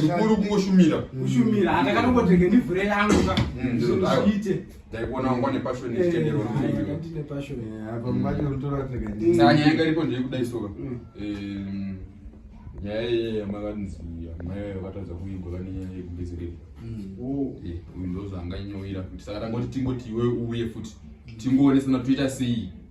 chikuru kungoshumira kushumira andakanongotenge ndivhure yangu zviite ndaikuona wangu ane pashoni chitenderosaa nyaya yanga iripo ndiri kudai soka nyaya iyeya makanzi amai vaye vakatadza kuigwa vane nyaya yekubetsereka uyu ndozvaanganyowira kuti saka tangoti tingoti iwe uye futi tingoone sana toita sei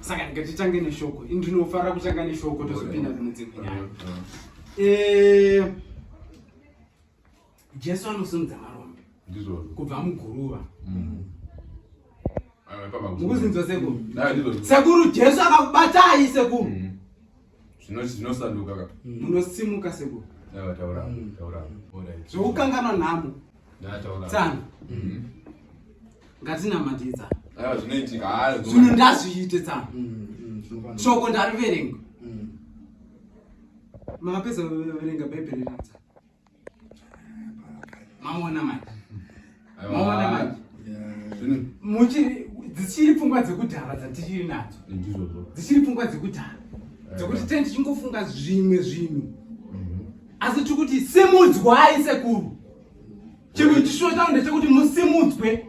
saka ngatitange neshoko ndinofarira kutanga neshoko tozopinda kune dzimwe nyaya eh, jesu anosimudza marombe kubva muguruva mm. mukuzinzwa sekuru sekuru jesu akakubatai sekuru mm. Zvino zvinosanduka ka. Mm. Munosimuka sekuru. Taura taura mm. taura. Zvokukangana nhamo. Ndataura. Tsana. Mm. Ngatinamatidza. Aiwa zvinoitika. Ah, Zvino ndazviite tsana. Shoko ndariverenga. Mapedza kuverenga Bhaibheri riri tsana. maona manje maona manje muchiri dzichiri pfungwa dzekudhara dzatichiri nadzo dzichiri pfungwa dzekudhara dzekuti tee ndichingofunga zvimwe zvinhu mhm. asi tiri kuti simudzwai sekuru chimwe chishuwo changu ndechekuti musimudzwe